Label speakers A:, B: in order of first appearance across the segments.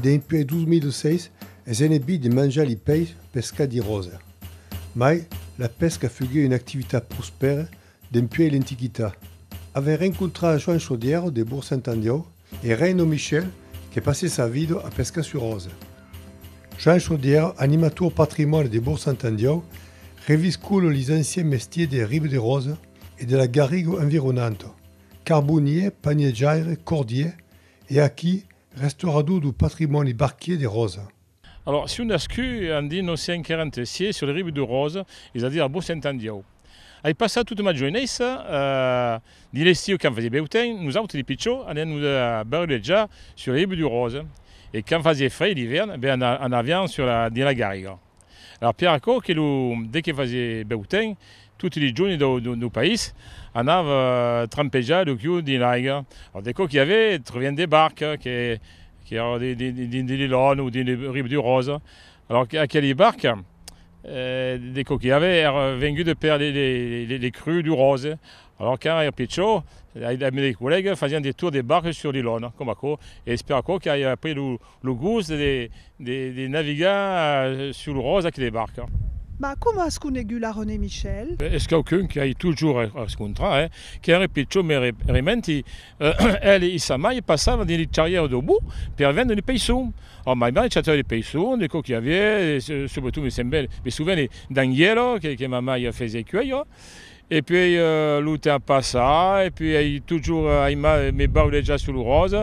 A: Dempuèi 2006 es enebit de manjar li peish pescat di Rosa. Mai, la pesca fugué una activitat prospèra dempuèi l'Antiquitat. Avent rencontrat Joan Chaudièro de Bourg-Saint-Andiau, E Reino Michel que passe sa vida a pescar sur Òsa. Jean Chaudière, animator patrimòni de Bourg Sant'Andiòu, reviscula lis anciens mestiers de Ribederosa e de la garriga environanta, carbonier, paniatjaire, cordier e aquí, restaurador du patrimòni barquier de Ròsa. Alòrs, si un
B: nascut e an dit, non siá inquerent, sié sur le rive du Rose, es a dire a Bossent-en-Diau. Ai passat tota ma joenessa, dins l'estiu quand fasié bèu temps, nosautes li pichó anián nos barulejar sur le rive du Rose e quand fasié frei l'ivèrn, ben anavián sur la dins la garriga. Alòrs per aquò que lo de que fasié bèu temps, Toti li joni dau país anav trampejar lo chiu dins l'aiga. De çò qu'i avé, trovián de barques que qu'èran dins de l'Ilòn o dins le Riu du Ròsa. Alòrs aqueli barques, de çò qu'i avé, èran vengudes per le cru du Ròse. Alòrs quand èra pichó, ath mei colèga fasián de tours de barques sur l'Ilòn, coma aquò, e es per aquò qu'i a pris lo. Lo gust de navigar sul ròsa que de barca. Mas coma as
C: conegut la Renée Michel? Es quauqu'un qu'ai
B: totjorn a rescontrar, eh? Qu'ère pichon me rementi, ela e sa mair passavan dins li charrièrs dau Bourg per vendre li peisson. Ò, mai mai chatava li peisson, de cò qu'i aviá, e subretot me semblèt, me soveni, d'anguèla que ma mair fesiá cuèir. E puèi lo temps passa e puèi ai totjorn ai mal e me bau dejà sul ròs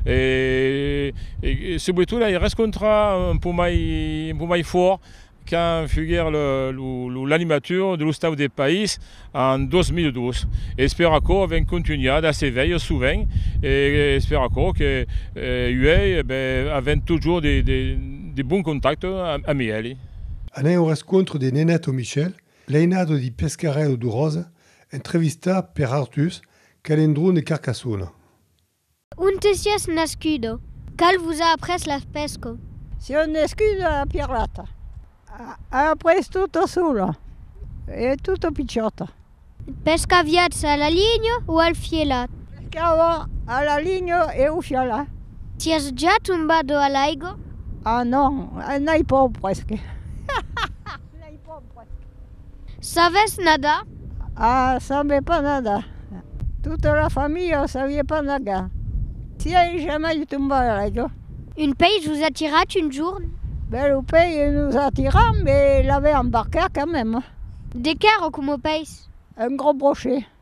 B: e subretot ai rescontra un pò mai un pò mai fòrt quand fuguèr lo l'animatur de l'ostau de país en 2002 e espèr aquò avèn contunhat a se veir sovent e espèr aquò que uèi avèn totjorn de de bons contactes amb elhi. Anèu
A: rescontre de Nenèt o Michèl L'ainado di Pescarèu du Ròsa entrevistat per Artús Calendrón de Carcassona. Onte
D: sies nascudo? Qual vos a après las pesco? Sieu nascudo
E: a Pirata. A après tota sola e tota pichota. Pescaviatz
D: a la linha o al fielat? Pescava
E: a la linha e au fielat. Sies ja
D: tombado a l'aigo? A non,
E: n'ai pas presque.
D: Sabes nadar? Ah, sabe
E: pas nadar. Tota la familha o sabie pas nagar. Siei jamai tombar a l'aigua. Un peish vos
D: a tirat un jorn? Ben, lo peish
E: nos a tirat, mais l'avem embarcar quand même. De qué era
D: como peish? Un gros brochet.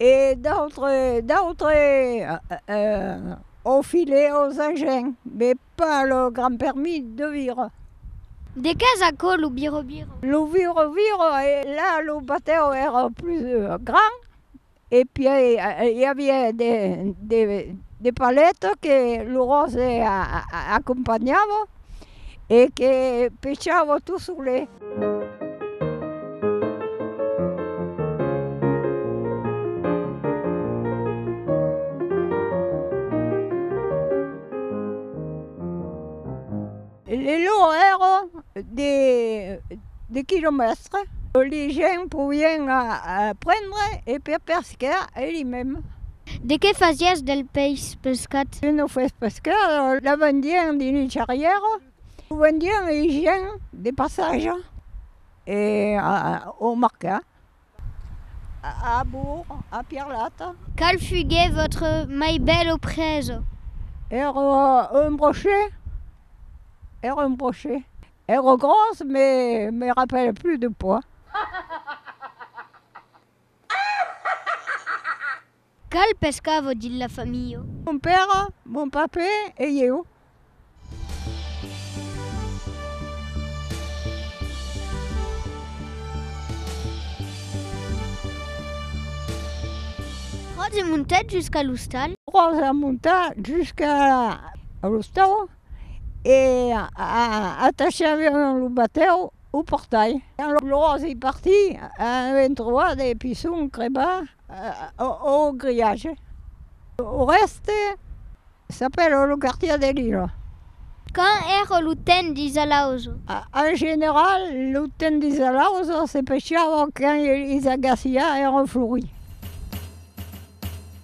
E: e d'autre d'autre au filet aux agents mais pas le grand permis de vire. De
D: qués aquò lo vire vire? Lo vire vire
E: e la lo batèu èra plus grand e pièi i aviá de de de palets que lo ròse acompanhava e que pechavo tu sole. Le lor ero de quilomètre, li gent poién prendre e per pescar e li mèm. De qué
D: fasiás del peis pescat? Que non fes pescat,
E: la vendián dins un charrièr, o vendián a un gent de passatge e au mercat, a Bourg, a Pierlat. Qual fugué
D: votre mai bèl oprèsa? Ère
E: un brochet, ère un brochet, ère gros mais me rappelle plus de poids.
D: Qual pescavo dins la familha?
E: Mon père, mon pape e ieu.
D: Ròse montèt jusqu'a l'ostal. Ròsa monta
E: jusqu'a l'ostal e atachava lo batèu Au portai. Quand lo glòs ei parti, avèm trobat de pison crebar au griatge. Au rèste, s'apèla lo quartièr de Lila. Quand
D: èra lo temps d'isalausa? En general,
E: lo temps d'isalausa se pechava quand es agaciás èran florits.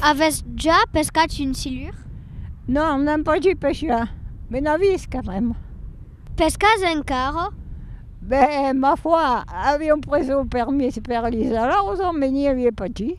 D: Avètz ja pescat un silur? Non,
E: n'èm pas dit pesjar, me n'avís carrèm. Pescatz
D: encara? Ben,
E: ma foi, aviom pres lo permís per li salaus, me n'i avia pas dit.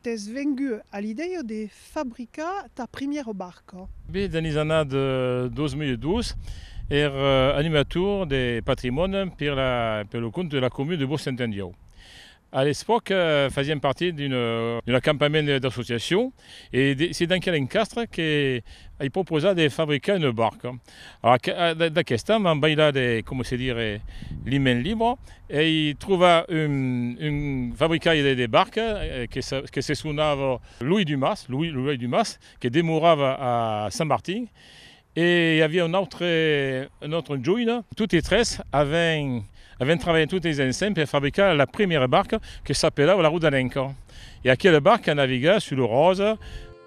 C: T'es vengut a l'idèia de fabricar ta primièra barca? Be, dins las
B: annadas 2002, èr animator de patrimòni per la per lo compte de la comuna de Bosch-Saint-Endieu. A l'espòca, fasièm partir d'un d'un acampament d'associacion e se denquèr l'encastre que ai proposat de fabricar una barca. Alara, d'aquesta m'an bailat, coma se dire, li men libro, ei trovar un fabricaire de barca que se sonava Louis Dumas, Louis Louis Dumas, que demorava a Saint-Martin, e i aviá un autre, un autre joine, totes tres aven, aven trabalhat totes ensems per fabricar la premiera barca que s'apelava la Rodanenca, e aquela barca navigava sul Rosa.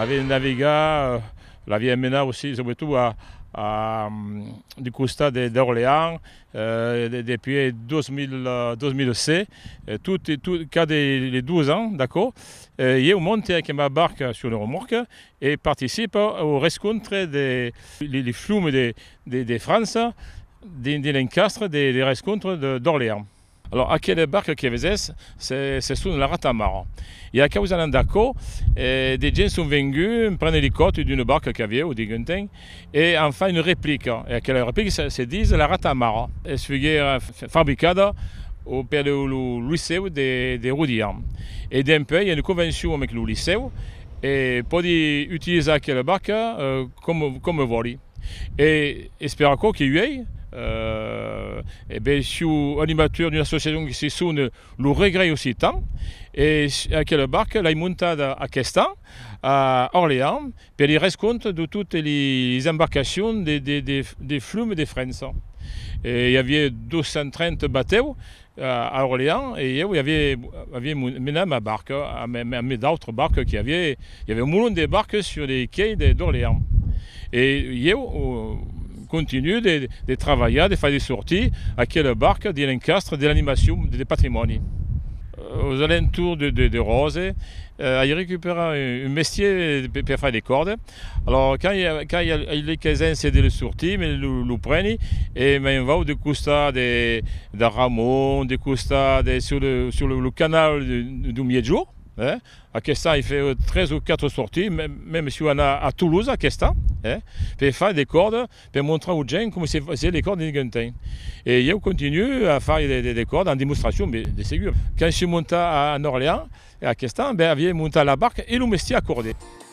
B: Avèm navegat, l'avèm menat aussi subretot a a du costat de d'Orléans depuis 2007, tot e tot cada les deux ans, d'accord, ieu monte ac ma barca sur le remorque e participe au rescontre de les flums de de França dins dins l'encastre de de rescontre d'Orléans. Alòs, aquele barque que vesètz, se son la Rata Mara. E a causalan d'aquò, de gents son venguts emprendre li còth d'una barca qu'avieu, diguenten, e an fach una replica. E aquela replica se dis la Rata Mara. Es fuguère fabricada au per lo Licèu de Rodian. E dempuèi i a una convencion amec lo Licèu e pòdi utilizar aquela barca coma vòli. E espèr aquò que uèi e ben siu animateur d'una associacion que se sona lo Regrei Occitan e aquela barca l'ai montada aqueste an a Orléans per li res compte de totes les embarcacions de flum de França e i aviá 230 batèus A Orléans, e ieu i avié, avié menat ma barca amb, amb mes d'autres barques qu'i avié, i avié un molon de barques sur les quais de, d'Orléans. E ieu continuo de, de travalhar, de far de sortir aquela barca dins l'encastre de l'animacion de, de patrimòni. Aux alentours de, de, de Rose, ai recuperat un, un mestier per, per far de còrdes, Alòs qu'ai ei l'equesència de le sortir, me lo preni e me'n vau de costat de Ramon, de costat de sur lo canal du Miègjorn, eh? Aquest an ei fait tres o quatre sorties, mèm soi anar a Toulouse aquest an, eh? Per far de còrda, per montrar aux gents coma se fasiá de còrda dins Gentain. E ieu continue a far de còrda en demostracion, de segur. Quand soi montat en Orléans, aquest an, ben aviá montat la barca e lo mestier a còrder.